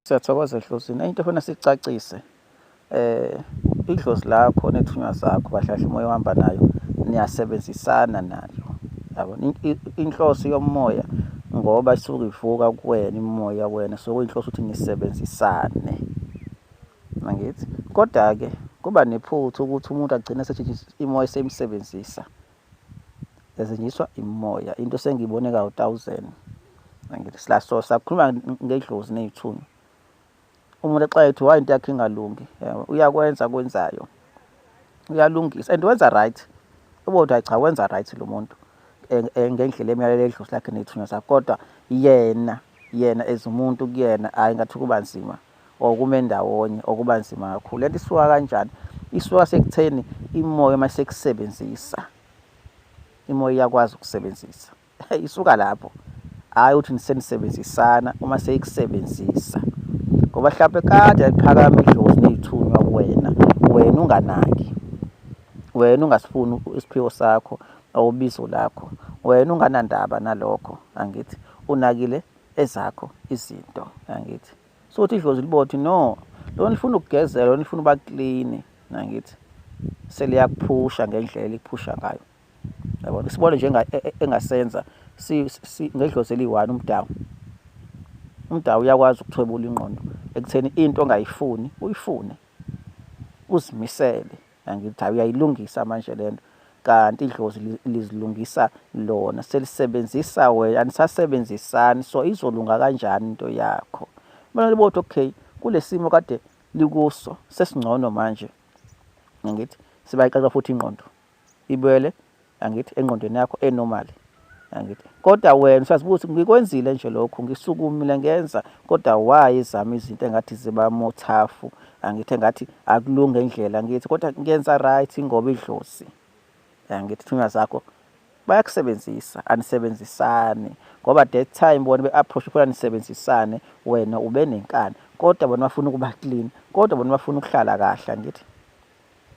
Siyathokoza edlozini. Enye into efuna sicacise eh idlozi lakho nethunywa zakho bahlahla umoya ohamba nayo niyasebenzisana nalo. Yabo inhloso yomoya ngoba isuke ivuka kuwena imoya wena so kuyinhloso ukuthi nisebenzisane. Mangithi kodwa ke kuba nephutha ukuthi umuntu agcine esetshenziswa imoya esemsebenzisa ezenyiswa imoya into sengiyibone ka 1000 ngithi silaso sakhuluma ngedlozi nezithunywa umuntu exa ethi why into yakhe ingalungi uyakwenza kwenzayo uyalungisa and wenza right ubothi cha wenza right lo muntu ngendlela emyalelo edlozi lakhe nethunywa zakhe kodwa yena yena as umuntu kuyena hayi ngathi kuba nzima or kume ndawonye okuba nzima kakhulu lento isuka kanjani isuka sekutheni imoya uma sekusebenzisa imoya iyakwazi ukusebenzisa isuka lapho hhayi ukuthi nisenisebenzisana uma seyikusebenzisa ngoba mhlawumpe kade yaliphakama idlozi neyithunywa kuwena wena unganaki wena ungasifuni isiphiwo sakho awubizo lakho wena unganandaba nalokho angithi unakile ezakho izinto yangithi so uthi idlozi libothi no lona lifuna ukugezela lona lifuna uba clean nangithi seliyakuphusha ngendlela eliphusha ngayo yabona sibone nje e, e, engasenza ngedlozi eliyi-one umdawu umdawu uyakwazi ukuthwebula ingqondo ekutheni into ongayifuni uyifune uzimisele angithi hayi uyayilungisa manje lento kanti idlozi lizilungisa lona selisebenzisa wena anisasebenzisani so izolunga kanjani into yakho mina libothi okay kulesimo kade likuso sesingcono manje ngithi sibayixaxa futhi ingqondo ibuyele angithi engqondweni yakho enormal angithi kodwa wena usazibuthi ngikwenzile nje lokhu ngisukumile ngenza kodwa why izama izinto engathi ziba mothafu angithi engathi akulunge indlela ngithi kodwa ngenza right ngoba idlozi angithi thunywa zakho bayakusebenzisa anisebenzisani ngoba that time bona be-approach khona nisebenzisane wena ube nenkani kodwa bona bafuna ukuba clean kodwa bona bafuna ukuhlala kahle angithi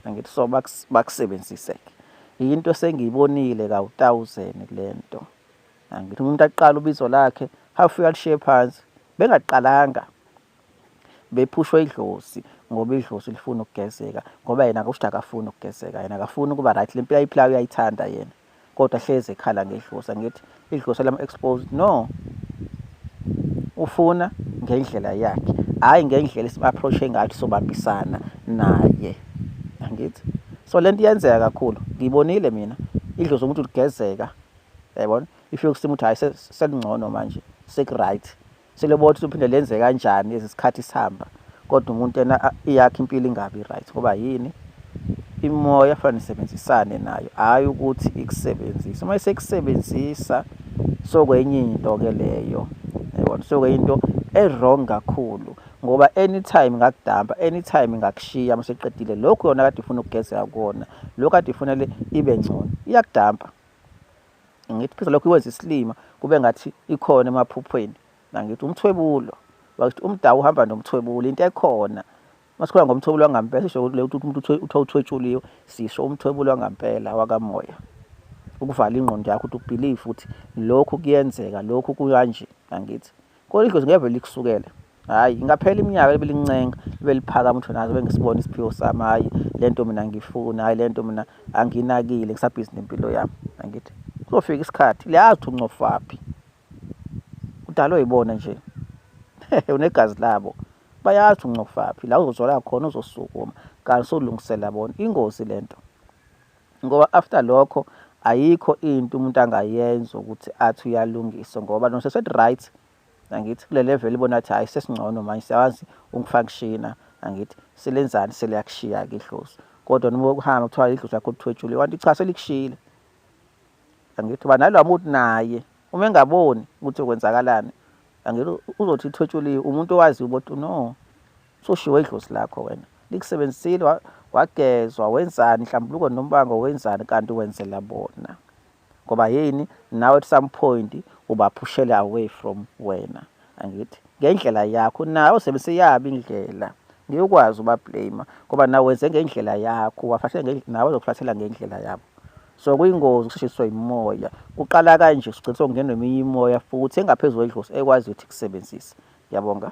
ngithi so bakusebenzise-ke yinto esengiyibonile kawutawuzeni kule nto angithi umuntu aqala ubizo lakhe hafike alishiye phansi bengaqalanga bephushwe idlozi ngoba idlozi lifuna ukugezeka ngoba yena kusho ukuthi akafuni ukugezeka yena akafuni ukuba right le mpilo ayiphilayo uyayithanda yena kodwa hlezi ekhala ngedlusa ngithi idlusa lama exposed no ufuna ngendlela yakhe hayi ngendlela esibaapproache ngathi sobambisana naye angithi so lento iyenzeka kakhulu ngibonile mina idlozi umuntu ligezeka yayibona if yokusima ukuthi hayi selingcono manje sekuright Selebona ukuthi uphinde lenze kanjani lezi sikhathi sihamba kodwa umuntu yena iyakhe impilo ingabi right ngoba yini imoya fanele nisebenzisane nayo hhayi ukuthi ikusebenzise uma isekusebenzisa sokwenye into-ke leyo yabona sokwenye into e-wrong kakhulu ngoba anytime ngakudampa anytime ngakushiya uma seqedile lokhu yona kade ifuna ukugezeka kona lokhu kade ifunele ibe ngcono iyakudampa ngithi phisa lokho ikwenza isilima kube ngathi ikhona emaphuphweni nangithi umthwebulo wakuthi umdawu uhamba nomthwebulo into ekhona masikhula ngomthwebulo wangampela sisho ukuthi leyo umuntu uthiwa uthwetshuliwe sisho umthwebulo wangampela wakamoya ukuvala ingqondo yakho ukuthi ubelieve ukuthi lokhu kuyenzeka lokhu kuyanje angithi Kodwa idlozi ngeke likusukele. Hayi, ingaphela iminyaka ebelincenga, beliphakama ukuthi nazo bengisibona isiphiwo sami. Hayi, le nto mina ngifuna, hayi le nto mina anginakile, ngisabhizi nempilo yami. Angithi kuzofika isikhathi liyazi ukuthi uncofaphi. Udalwe yibona nje. Unegazi labo. Bayazi ukuthi uncofaphi, la uzozwala khona uzosukuma. Kanti solungisela bona. Ingozi le nto. ngoba after lokho ayikho into umuntu angayenza ukuthi athi uyalungisa ngoba noma sesedi-right angithi kule level ibona athi hhayi sesingcono manje siyawazi ungifaka kushina angithi silenzani seliyakushiya-ke idlozi kodwa noma ukuhamba kuthiwa idlozi lakho lithwetshule wanti cha selikushiyile angithi uba nalowa muntu naye uma engaboni ukuthi kwenzakalani angeke uzothi ithwetshuliwe umuntu owaziyo ukuthi no soshiwe idlozi lakho wena likusebenzisile wagezwa wenzani hlambuluko nombango wenzani kanti wenzela bona ngoba yini nawe at some point ubaphushele away from wena angithi ngendlela yakho nawe usebenzise yabi indlela ngiyokwazi ubablame ngoba nawe wenze ngendlela yakho wafahle nawe uzokuflathela ngendlela yabo so kuyingozi ukushiswa imoya kuqala kanje ugcina sokungenwa eminye imoya futhi engaphezu kwedlozi ekwazi ukuthi kusebenzise ngiyabonga